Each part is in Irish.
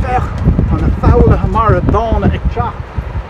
Féach, tá na foghlaithe mara dána ag teacht!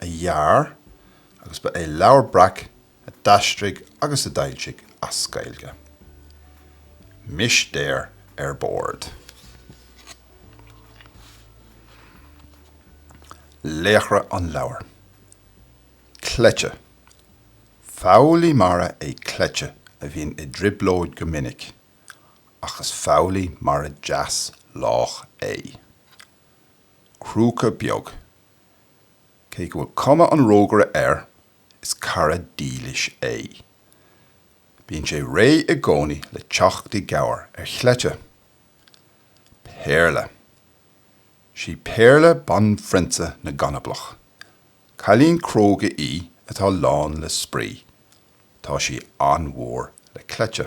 a dhear agus ba é Leabhar Breac a d'aistrigh agus a d'fhoilsigh as Gaeilge. Mistéir ar bord. Laochra an leabhair. Cleite. Foghlaí mara é cleite a bhíonn i dtrioblóid go minic, ach is foghlaí mara deas lách é. Crúca beag. Cé go bhfuil cuma an rógaire air, is cara dílis é. Bíonn sé réidh i gcónaí le teacht i gcabhair ar chleite. Péarla. 'Sí Péarla banphrionsa na gcanablach. Cailín cróga í atá lán le spraoi. Tá sí an-mhór le cleite.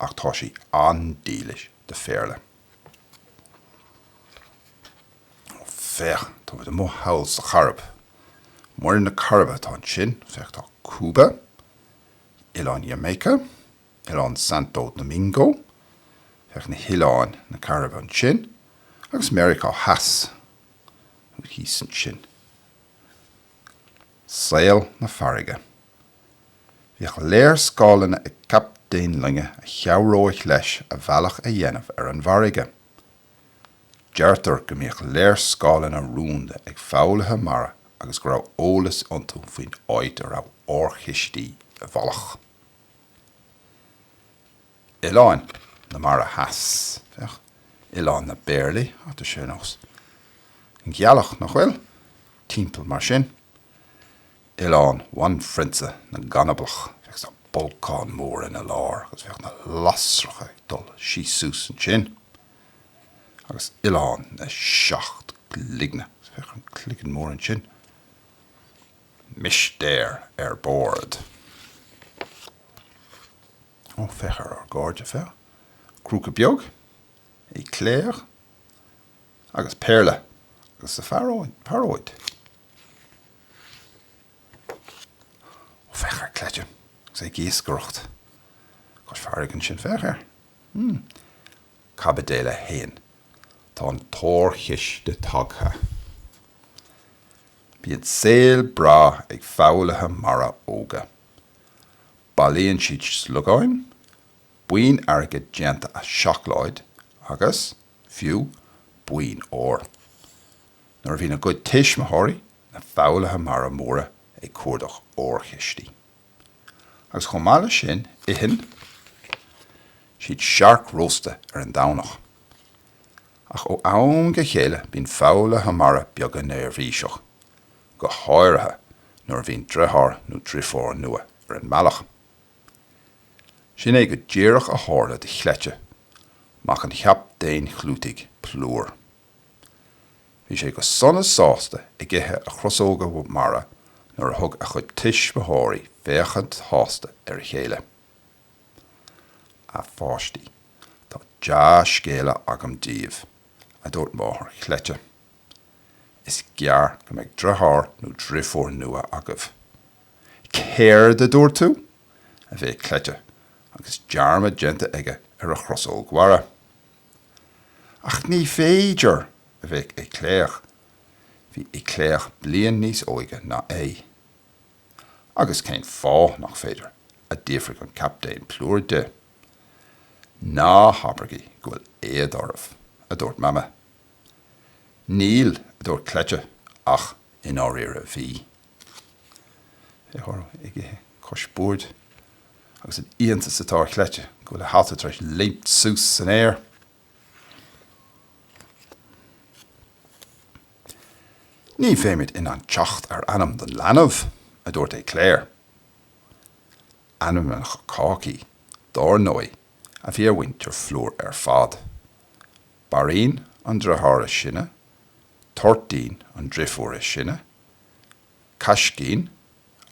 ach tá sí an-dílis do Phéarla. Féach, táimid amuigh thall sa Chairib. Muir na Cairibe atá ansin. Féach, tá Cúba, Oileán Jamaica, Oileán Santo Domingo, féach ar oileáin na Cairibe ansin, agus Meiriceá Theas thíos ansin. Saol na farraige. Bhíodh léarscáileanna ag captaen loinge a chabhródh leis a bhealach a dhéanamh ar an bhfarraige. Deirtear go mbíodh léarscáileanna rúnda ag foghlaithe mara agus go raibh eolas iontu faoin áit a raibh órchistí i bhfolach. Oileáin na Mara Theas, féach Oileán na bPéarlaí tá sé ar nós an ghealach, nach bhfuil? timpeall mar sin. Oileán bhanphrionsa na gCannablach. Féach an bolcán mór ina lár agus féach na lasracha ag dul síos suas ansin. Agus Oileán na Seacht gCloigne féach an cloigeann mór ansin. Mistéir ar bord. Ó, féach ar ár gcairde, féach. Crúca beag, Cleite, agus Péarla agus a phearóid. Ó féach ar Cleite agus é ag iascaireacht. cois farraige ansin. Féach air. Hm. Caibidil a haon. Tá an t-órchiste tagtha. Bíonn saol breá ag foghlaithe mara óga. Bailíonn siad sliogáin, boinn airgid déanta as seacláid agus, fiú, boinn óir. nuair a bhíonn a gcuid tuismitheoirí, na foghlaithe mara móra, ag cuardach órchistí. Agus chomh maith leis sin, itheann siad searc rósta ar an Domhnach. Ach ó am go chéile bíonn foghlaithe mara beaga neirbhíseach, go háirithe nuair a bhíonn driotháir nó driofúr nua ar an mbealach. Sin é go díreach a tharla do Chleite, mac an Chaptaein chlúitigh, Plúr. Bhí sé go sona sásta ag ithe a chrosóga mara nuair a thug a chuid tuismitheoirí féachaint shásta ar a chéile. A pháistí, tá dea-scéala agam daoibh, a dúirt máthair Chleite. Is gearr go mbeidh driotháir nó driofúr nua agaibh. Céard a dúirt tú? a bhéic Cleite agus dearmad déanta aige ar a chrosóg mhara. Ach ní féidir, a bhéic Éclair. Bhí Éclair bliain níos óige ná é. Agus cén fáth nach féidir? a d'fhiafraigh an Captaen Plúr de. Ná habraigí go bhfuil éad oraibh, a dúirt Mama. Níl, a dúirt Cleite, ach i ndáiríre bhí. ag ithe cois boird agus an iontas atá ar Chleite go bhfuil a hata tar éis léimt suas san aer. Ní bheimid in ann teacht ar ainm don leanbh, a dúirt Éclair. Ainmneacha cácaí, dár ndóigh, a bhí ar mhuintir Phlúr ar fad. Bairín an driotháir is sine, Toirtín an driofúr is sine, Caiscín,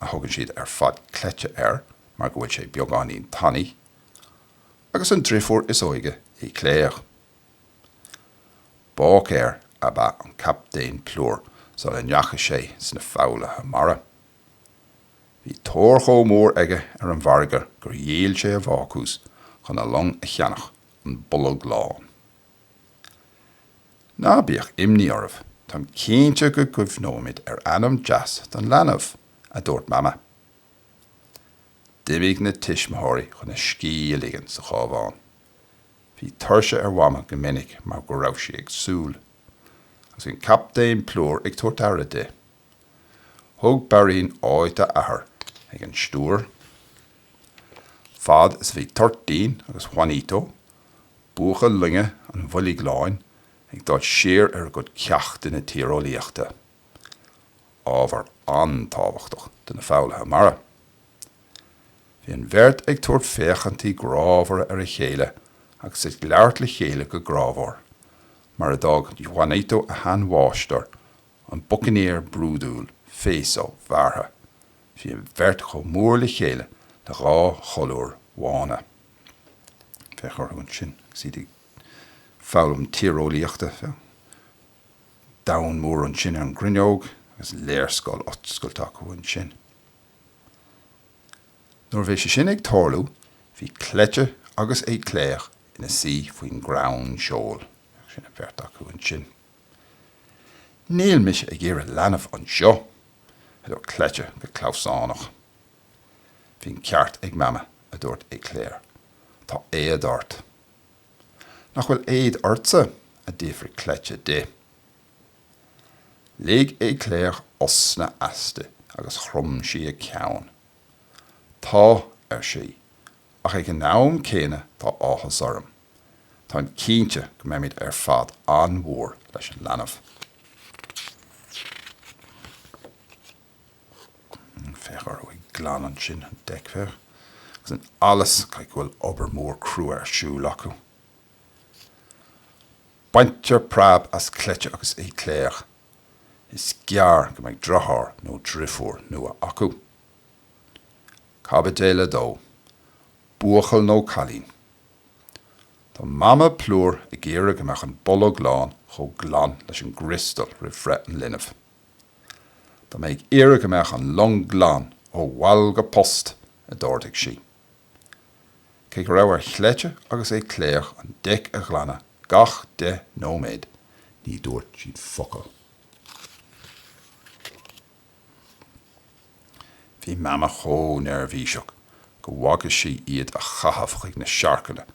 a thugann siad ar fad Cleite air mar go bhfuil sé beagáinín tanaí, agus an driofúr is óige Éclair. Báicéir ab ea an Captaen Plúr sula ndeachaigh sé sna foghlaithe mara. Bhí tóir chomh mór aige ar an bhfarraige gur dhíol sé a bhácús chun a long a cheannach, An Bolg Lán. Ná bíodh imní oraibh, táim cinnte go gcuimhneoimid ar ainm deas don leanbh, a dúirt Mama. D'imigh na tuismitheoirí chun a scíth a ligean sa chábhán. Bhí tuirse ar Mhama go minic mar go raibh sí ag súil agus an Captaen Plúr ag tabhairt aire di. Thóg Bairín áit a athar ag an stiúir fad is a bhí Toirtín agus Juanito buachaill loinge an Bhoilg Láin ag dul siar ar a gcuid ceachtanna tíreolaíochta, ábhar an-tábhachtach do na foghlaithe mara. Bhí an bheirt ag tabhairt féachaintí grámhara ar a chéile agus ag labhairt le chéile go grámhar, mar a d'fhág Juanito a shean-mháistir, an bucainéir brúidiúil Féasóg Bhearrtha. Bhí an bheirt chomh mór le chéile le dhá cholúr bhána. Féach orthu ansin agus iad ag foghlaim tíreolaíochta. Domhan mór ansin ar an gcruinneog agus léarscáil oscailte acu ansin. Nuair a bhí sé sin ag tarlú bhí Cleite agus Éclair ina suí faoin gcrann seoil. Sin an bheirt acu ansin. Níl mise ag iarraidh leanbh anseo! a dúirt Cleite go clamhsánach. Bhí an ceart ag Mama, a dúirt Éclair. Tá éad ort. Nach bhfuil éad ortsa? a d'fhiafraigh Cleite di. Lig Éclair osna aisti agus chrom sí a ceann. Tá, ar sí, ach ag an am céanna tá áthas orm. Táim cinnte go mbeimid ar fad an-mhór leis an leanbh. Féach orthu ag glanadh ansin, an deic, féach. Agus an allas! Caithfidh go bhfuil obair mór crua ar siúl acu. Baintear preab as Cleite agus Éclair. Is gearr go mbeidh deartháir nó deirfiúr nua acu. Caibidil a dó, Buachaill nó cailín? Tá Mama Plúr ag iarraidh go mbeadh an bolg lán chomh glan leis an gcriostal roimh bhreith an linbh. Tá mé ag iarraidh go mbeadh an long glan ó bhall go post, a d'ordaigh sí. Cé go raibh ar Chleite agus Éclair an deic a ghlanadh gach deich nóiméad, ní dúirt siad focal. Bhí Mama chomh neirbhíseach gur bhagair sí iad a chaitheamh chuig na siorcanna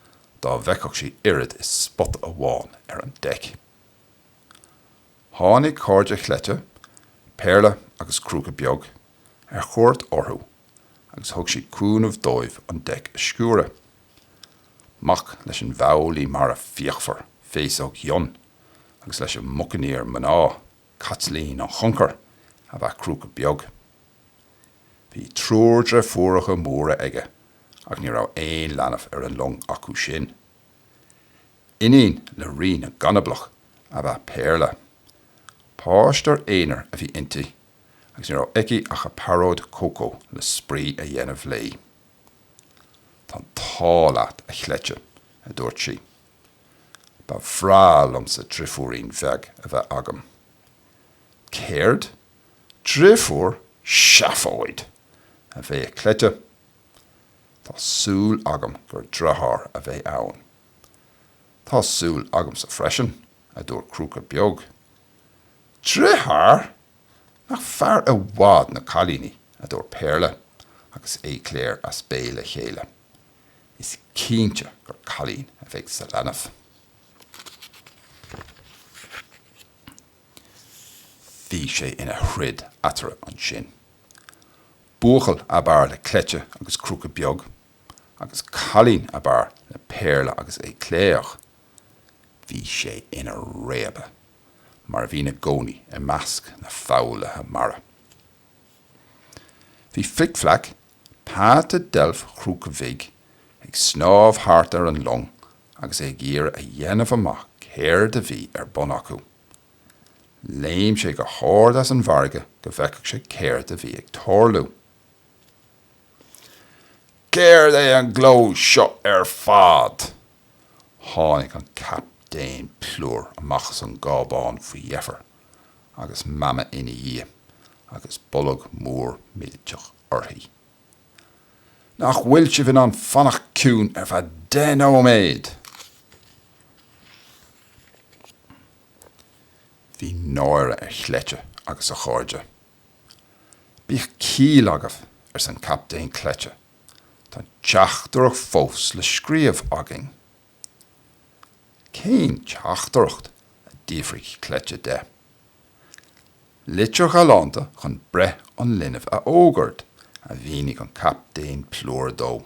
dá bhfeicfeadh sí oiread is spota amháin ar an deic. Tháinig cairde chleite Péarla agus Crúca Beag ar chuairt orthu agus thug siad cúnamh dóibh an deic a sciúradh. Mac leis an bhfoghlaí mara fíochmhar Féasóg Fhionn agus leis an mbucainéir mná Caitlín an Choncair ab ea Crúca Beag. Bhí triúr dreifiúracha móra aige ach ní raibh aon leanbh ar an long acu sin. Iníon le Rí na gConablach ab ea Péarla. Páisteoir aonair a bhí inti agus ní raibh aici ach a pearóid cócó le spraoi a dhéanamh léi. 'Tá an t-ádh leat, a chleite, a dúirt sí. 'Ba bhreá liomsa drifiúirín bheag a bheith agam. 'Céard? Drifiúr? Seafóid! a bhéic cleite. 'Tá súil agam gur dritháir a bheidh ann. Tá súil agamsa freisin, a dúirt Crúca Beag. Dritháir! Nach fearr i bhfad na cailíní, a dúirt Péarla agus Éclair as béal a chéile. Is cinnte gur cailín a bheidh sa leanbh. Bhí sé ina throid eatarthu ansin. Buachaill ab fhearr le Cleite agus Crúca Beag agus cailín ab fhearr le Péarla agus Éclair, ach bhí sé ina réabadh, mar a bhíonn i gcónaí i measc na foghlaithe mara. Bhí Flic Fleaic, peata deilf Chrúca Bhig, ag snámh thart ar an long agus é ag iarraidh a dhéanamh amach céard a bhí ar bun acu. Léim sé go hard as an bhfarraige go bhfeicfeadh sé céard a bhí ag tarlú. Céard é an gleo seo ar fad? Tháinig an Captaen Plúr amach as an gcábán faoi dheifir agus Mama ina dhiaidh agus bolg mór millteach uirthi. Nach bhfuil sibh in ann fanacht ciúin ar feadh deich nóiméad? Bhí náire ar Chleite agus a chairde. Bíodh ciall agaibh, arsa an Captaen. Cleite, tá an teachtaireacht fós le scríobh againn. Cén teachtaireacht? a d'fhiafraigh Cleite de. Litir ghalánta chun breith an linbh a fhógairt, a mhínigh an Captaen Plúr dó.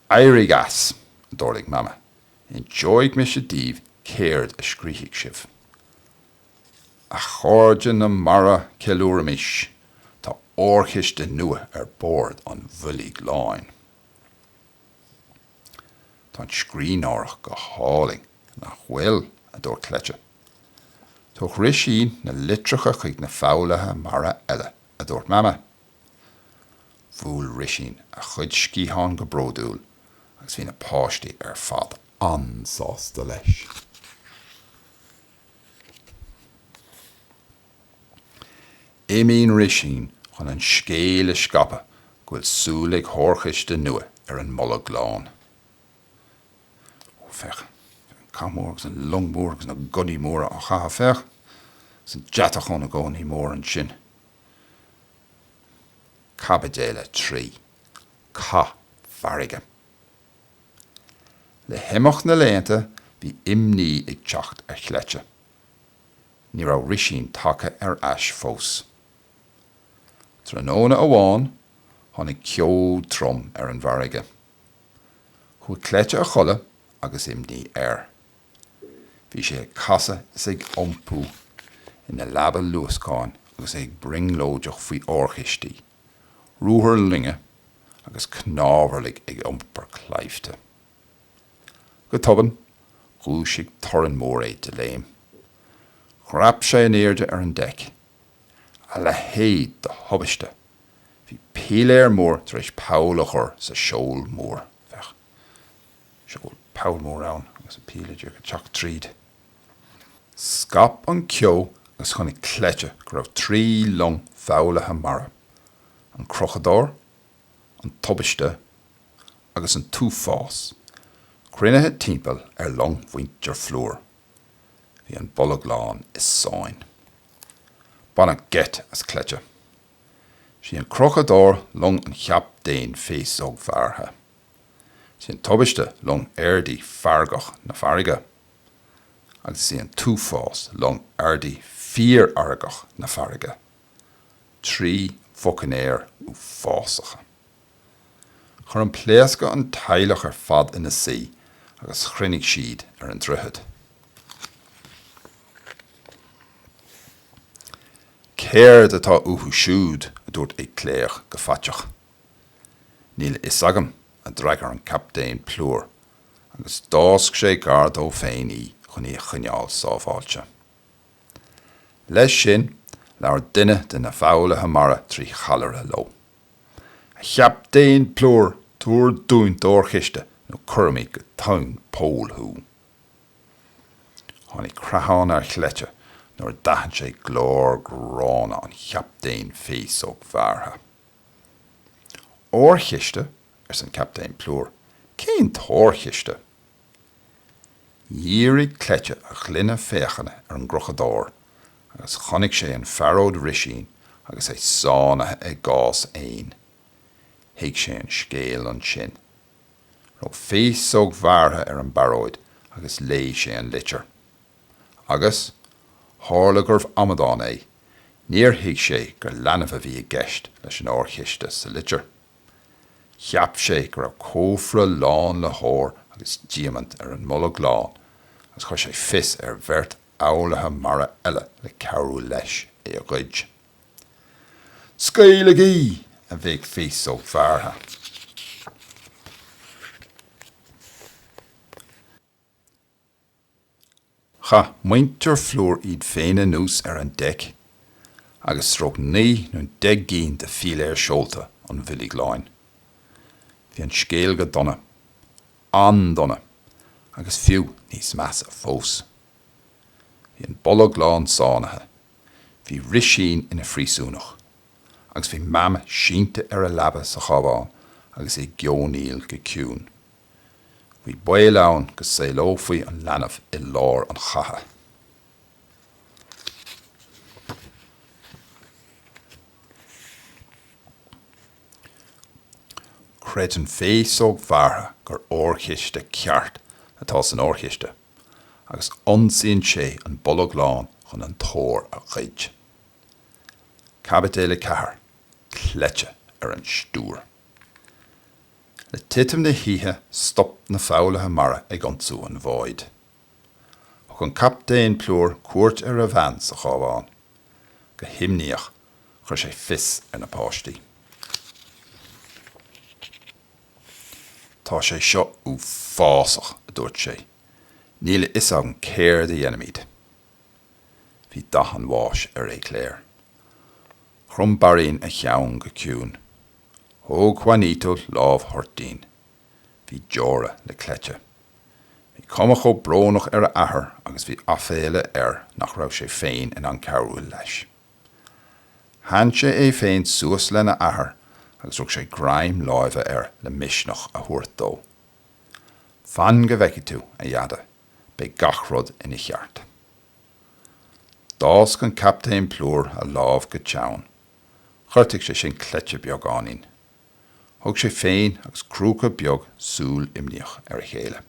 'Éirigh as! a d'ordaigh Mama. 'Inseoidh mise daoibh céard a scríobhfaidh sibh. A chairde na mara, ceiliúraimis, tá órchiste nua ar bord an Bhoilg Láin. Tá an scríbhneoireacht go hálainn, nach bhfuil? a dúirt Cleite. 'Tabharfaidh Risín na litreacha chuig na foghlaithe mara eile, a dúirt Mama. Bhuail Risín a chuid sciathán go bródúil agus bhí na páistí ar fad an-sásta leis. Imíonn Risín chun an scéal a scaipeadh go bhfuil súil le hórchiste nua ar an mBolg Lán. Ó, féach an cath mór agus an long mhór agus na gunnaí móra á chaitheamh, féach, is an deatach ó na gunnaí móra ansin. Caibidil 3, cath farraige Le himeacht na laethanta bhí imní ag teacht ar Chleite. Ní raibh Risín tagtha ar ais fós. Tráthnóna amháin tháinig ceo trom ar an bhfarraige. Chuaigh Cleite a chodladh agus imní air. Bhí sé ag casadh is ag iompú ina leaba luascáin agus é ag brionglóideach faoi órchistí, ruathair loinge agus cnámharlaigh ag iompar claimhte. Go tobann, dhúisigh torann mór é de léim. Dhreap sé in airde ar an deic. A leithéid de thubaiste! Bhí piléar mór tar éis poll a chur sa seol mór, féach. sé go bhfuil poll mór ann agus an piléar díreach ag teacht tríd. Scaip an ceo agus chonaic Cleite go raibh trí long foghlaithe mara, an Crochadóir, an Tubaiste agus an tUafás, cruinnithe timpeall ar long mhuintir Phlúr. Bhí an Bolg Lán i sáinn. Baineadh geit as Cleite. 'Sí an Crochadóir long an Chaptaein Féasógbhearrtha! Is í an Tubaiste long airdí feargach na farraige, agus is í an tUafás long airdí fíorfheargach na farraige, trí bhucainéir uafásacha. Chuir an pléascadh an teaghlach ar fad ina suí agus chruinnigh siad ar an droichead. Céard atá uathu siúd? a dúirt Icléoch go faiteach. Níl a fhios agam, a d'fhreagair an Captaen Plúr, agus d'fhásc sé gar dó féin í chun í a choinneáil sábháilte. Leis sin, labhair duine de na foghlaithe mara trí challaire leo. A Chaptaen Plúr, tabhair dúinn d'óirchiste nó cuirfimid go tóin poill thú! Tháinig creathán ar Chleite nuair a d'aithin sé glór gránna an Chaptaein Féasóg Bhearrtha. Órchiste? arsa an Captaen Plúr. Cén t-órchiste? Dhírigh Cleite a ghloine féachana ar an gCrochadóir agus chonaic sé an phearóid Risín agus é sáinnithe i gcás éin. Thuig sé an scéal ansin. Rug Féasóg Bhearrtha ar an bpearóid agus léigh sé an litir. Agus, tharla gurbh amadán é, níor thuig sé gur leanbh a bhí i gceist leis an órchiste sa litir. Cheap sé go raibh cófra lán le hór agus diamaint ar an mBolg Lán agus chuir sé fios ar bheirt fhoghlaithe mara eile le cabhrú leis é a ghoid. Scaoiligí! a bhéic Féasóg Bhearrtha. Chaith muintir Phlúir iad féin anuas ar an deic agus stróic naoi nó deich gcinn de philéir seolta an Bhoilg Láin. Bhí an scéal go dona. An-dona. Agus fiú níos measa fós. Bhí an Bolg Lán sáinnithe. Bhí Risín ina phríosúnach. Agus bhí Mam sínte ar a leaba sa chábán agus í ag geonaíl go ciúin. Bhí baol ann go saolófaí an leanbh i lár an chatha. Creideann Féasóg Bhearrtha gur órchiste ceart atá san órchiste agus ionsaíonn sé an Bolg Lán chun an t-ór a ghoid. Caibideal 4, Cleite ar an stiúir. Le titim na hoíche stop na foghlaithe mara ag ionsú an bháid. Thug an Captaen Plúr cuairt ar a bhean sa chábán. Go himníoch chuir sé fios ar na páistí. Tá sé seo uafásach, a dúirt sé. Níl a fhios agam céard a dhéanfaimid. Bhí dath an bháis ar Éclair. Chrom Bairín a cheann go ciúin. Thóg Juanito lámh Thoirtín. Bhí deora le Cleite. Bhí cuma chomh brónach ar a athair agus bhí aiféala air nach raibh sé féin in ann cabhrú leis. Theann sé é féin suas lena athair agus rug sé greim láimhe air le misneach a thabhairt dó. Fan go bhfeicfidh tú, a Dheaide. beidh gach rud ina cheart. D'fhásc an Captaen Plúr a lámh go teann. Ghortaigh sé sin Cleite beagáinín. Thug sé féin agus Crúca Beag súil imníoch ar a chéile.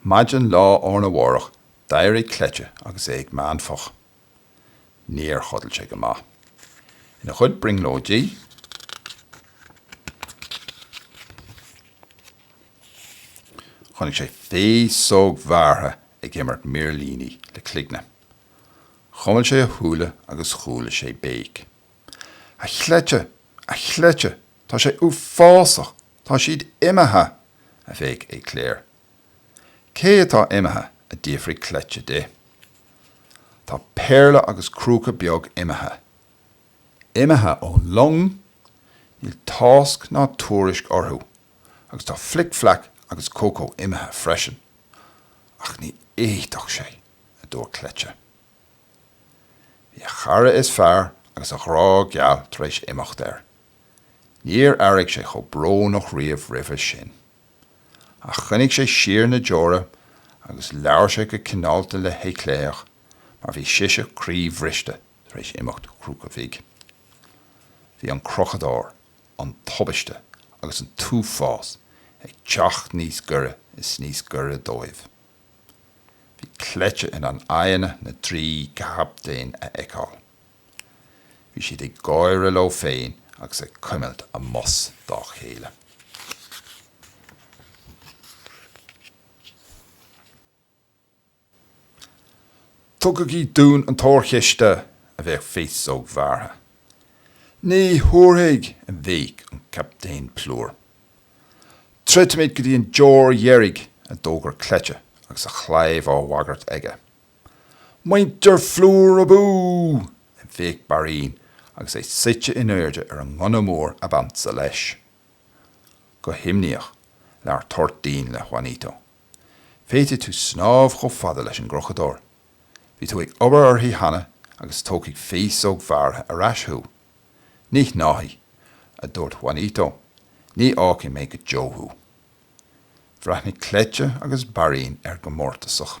Maidin lá arna mhárach d'éirigh Cleite agus é ag meánfach. Níor chodail sé go maith. Ina chuid brionglóidí, chonaic sé Féasóg Bhearrtha ag imirt mirlíní le cloigne. Chuimil sé a shúile agus chuala sé béic. A Chleite! A Chleite! Tá sé uafásach! Tá siad imithe! a bhéic Éclair. Cé atá imithe? a d'fhiafraigh Cleite di. Tá Péarla agus Crúca Beag imithe. Imithe ón long? Níl tásc ná tuairisc orthu agus tá Flic Flac agus Cócó imithe freisin. Ach ní fhéadfadh sé, a dúirt Cleite. Bhí a chara is fearr agus a ghrá geal tar éis imeacht air. Níor airigh sé chomh brónach riamh roimhe sin. Ach choinnigh sé siar na deora agus labhair sé go cineálta le hÉclair mar bhí sise croíbhriste tar éis imeacht Chrúca Bhig. Bhí an Crochadóir, an Tubaiste agus an tUafás ag teacht níos gaire is níos gaire dóibh. Bhí Cleite in ann aghaidheanna na dtrí gcaptaen a fheiceáil. Bhí siad ag gáire leo féin agus ag cuimilt a mbos dá chéile. Tugaigí dúinn an t-órchiste! a bhéic Féasóg Bhearrtha. Ní thabharfaidh! a bhéic an Captaen Plúr. Troidfimid go dtí an deoir dheiridh! a d'fhógair Cleite agus a chlaíomh á bhagairt aige. Muintir Phlúir abú! a bhéic Bairín agus é suite in airde ar an ngunna mór ab ansa leis. Go himníoch, labhair Toirtín le Juanito. Féadfaidh tú snámh chomh fada leis an gCrochadóir. Bhí tú ag obair uirthi cheana agus tógfaidh Féasóg Bhearrtha ar ais thú. Ní shnámhfaidh, a dúirt Juanito, ní fhágfaidh mé go deo thú. Bhreathnaigh Cleite agus Bairín air go mórtasach.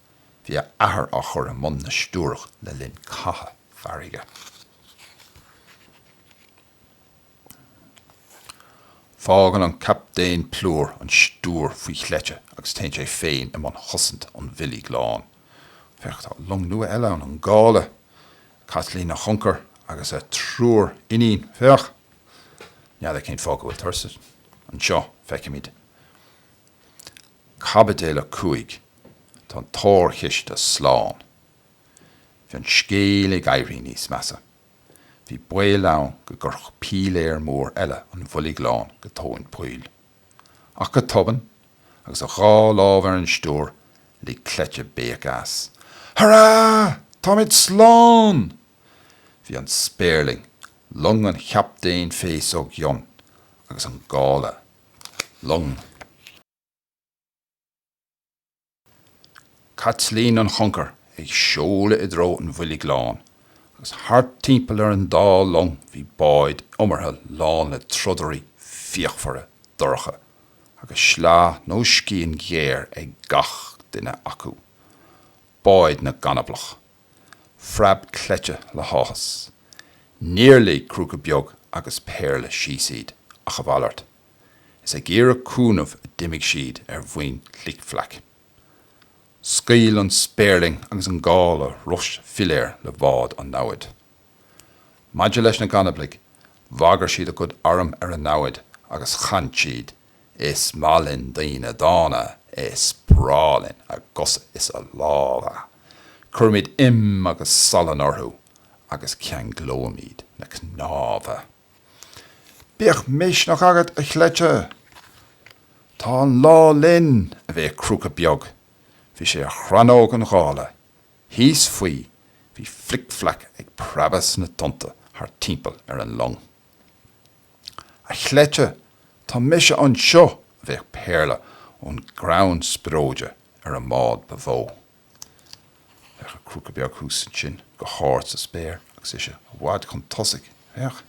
Bhí a athair á chur i mbun na stiúrach le linn catha farraige. Fágann an captaen plúr an stiúir faoi chleite agus téann sé féin i mbun chosaint an Bhoilg Láin. Féach, tá long nua eile ann, an gála, Caitlín an Choncair agus a triúr iníon. Féach! N'fheadar cén fáth go bhfuil turas anseo, feicimid. Caibidil 5 Tá an t-órchiste slán. Bhí an scéal ag éirí níos measa. Bhí baol ann go gcuirfeadh piléar mór eile an Bhoilg Lán go tóin poill. Ach go tobann, agus a dhá lámh ar an stiúir, lig cleite béic as. Hurrá! Táimid slán! Bhí an spéirling, long an chaptaein Féasóg Fhionn, agus an gála long Chaitlín an Choncair ag seoladh i dtreo an Bhoilg Láin, agus thart timpeall ar an dá long bhí báid iomartha lán le trodairí fíochmhara dorcha, agus sleá nó scian ghéar ag gach duine acu. Báid na gcanablach. phreab cleite le háthas. Níor lig Crúca Beag agus Péarla síos iad, ach a mhalairt. Is ag iarraidh cúnaimh a d'imigh siad ar mhuin Flic Fleaic. Scaoil an spéirling agus an gála rois philéir le bhád an namhaid. Maidir leis na gcanablaigh, bhagair siad a gcuid arm ar an namhaid agus chan siad Is maith linn daoine dána, is breá linn a gcosa is a lámha. Cuirimid im agus salann orthu agus ceanglóimid na cnámha. Bíodh misneach agat, a chleite! Tá an lá linn, a bhéic Crúca Beag, bhí sé ar chrannóg an ghála, thíos faoi, bhí Flic Fleaic ag preabadh sna tonnta thart timpeall ar an long. A chleite, tá mise anseo! a bhéic Péarla ón gcrann spreoide ar an mbád ba mhó. Féach ar Crúca Beag thuas ansin go hard sa spéir agus ise i bhfad chun tosaigh. Féach.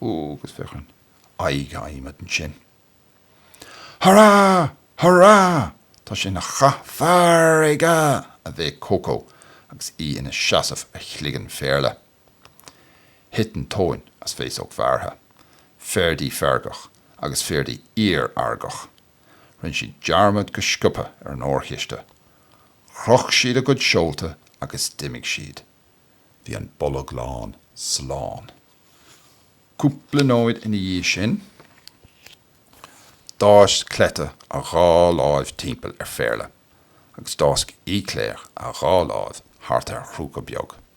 Ó, agus féach ar an aghaidh adhmaid ansin. Hurá! Hurá! Tá sé ina chath farraige! a bhéic Cócó agus í ina seasamh ar chloigeann Phéarla. Thit an tóin as Féasóg Bhearrtha, Ferdi feargach agus Ferdi iarfheargach. Rinne siad dearmad go sciobtha ar an órchiste. Chroch siad a gcuid seolta agus d'imigh siad. Bhí an Bolg Lán slán. Cúpla nóiméad ina dhiaidh sin, d'fháisc Cleite a dhá láimh timpeall ar Phéarla agus d'fháisc Éclair a dhá láimh thart ar Chrúca Beag.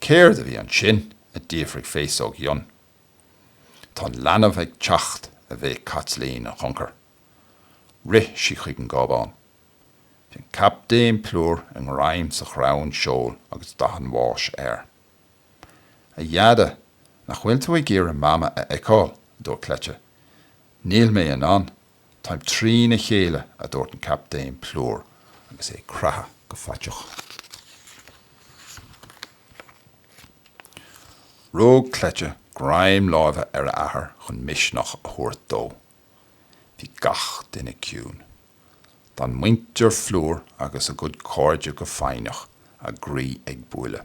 Céard a bhí ansin? a d'fhiafraigh Féasóg Fhionn. Tá an leanbh ag teacht, a bhéic Caitlín an Choncair. Rith sí chuig an gcábán. Bhí an Captaen Plúr i ngreim sa chrann seoil agus dath an bháis air. A Dheaide, nach bhfuil tú ag iarraidh Mama a fheiceáil? a dúirt Cleite. Níl mé in ann Táim trína chéile, a dúirt an Captaen Plúr agus é ag creathadh go faiteach. Rug Cleite greim láimhe ar a athair chun misneach a thabhairt dó. Bhí gach duine ciúin. D'fhan muintir Phlúr agus a gcuid cairde go foighneach, a gcroí ag buaileadh.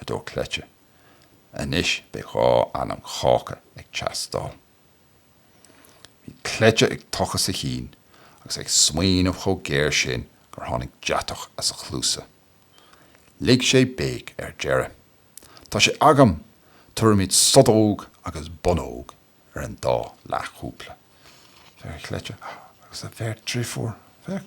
a dúirt Cleite. Anois beidh dhá ainm cháca ag teastáil. Bhí Cleite ag tochas a chinn agus é ag smaoineamh chomh géar sin gur tháinig deatach as a chluasa. Lig sé béic ar deireadh. Tá sé agam! Tabharfaimid Sodóg agus Bonnóg ar an dá leathchúpla. Féach, Cleite agus a bheirt dreifiúr. Féach.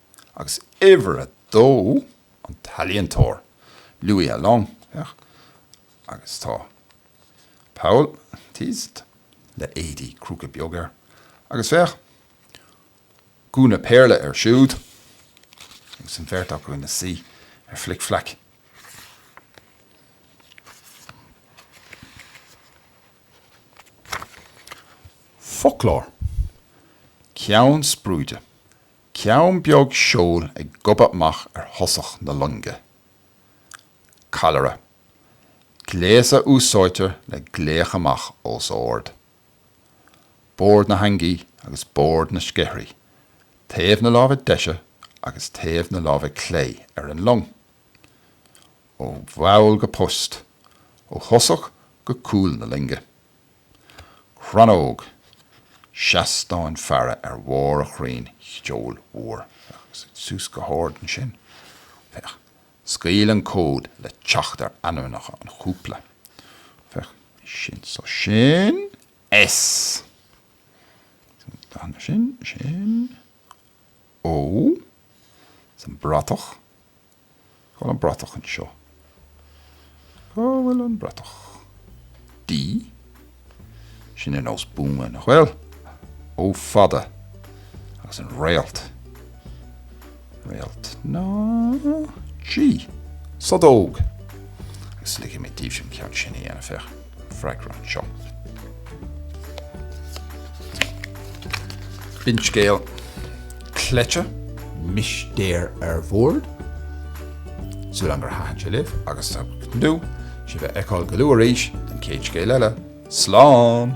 Agus uimhir a dó, an t-ealaíontóir, Louis Alloing, féach, agus tá Paul Thiès le éadaí Crúca Beag air, agus féach, gúna Péarla air siúd, agus an bheirt acu ina suí ar Flic Flac. Foclóir, ceann spreoide. Ceann beag seoil ag gobadh amach ar thosach na loinge. Callaire. Gléas a úsáidtear le glaoch amach os ard. Bord na heangaí agus bord na sceathraí, taobh na láimhe deise agus taobh na láimhe clé ar an long. Ó bhall go post, ó thosach go cúl na loinge. Crannóg, seastán faire ar bharr an chrainn tseoil mhóir. Féach, suite suas go hard ansin. Féach, scaoil an cód le teacht ar ainmneacha an chúpla. Féach, sin so sin S. San dathanna sin, sin O. San bratach, Cá bhfuil an bratach anseo? Cá bhfuil an bratach? D? Sin ar nós buama, nach bhfuil? O fada! Agus an réalt. Réalt ná? G? Stadóg! Agus ligfidh mé daoibhse an ceann sin a dhéanamh, féach. Freagra anseo. B'in scéal Cleite. Mistéir ar bhord. Súil agam gur thaitin sé libh agus ag tnúth sibh a fheiceáil go luath arís don chéad scéal eile. Slán!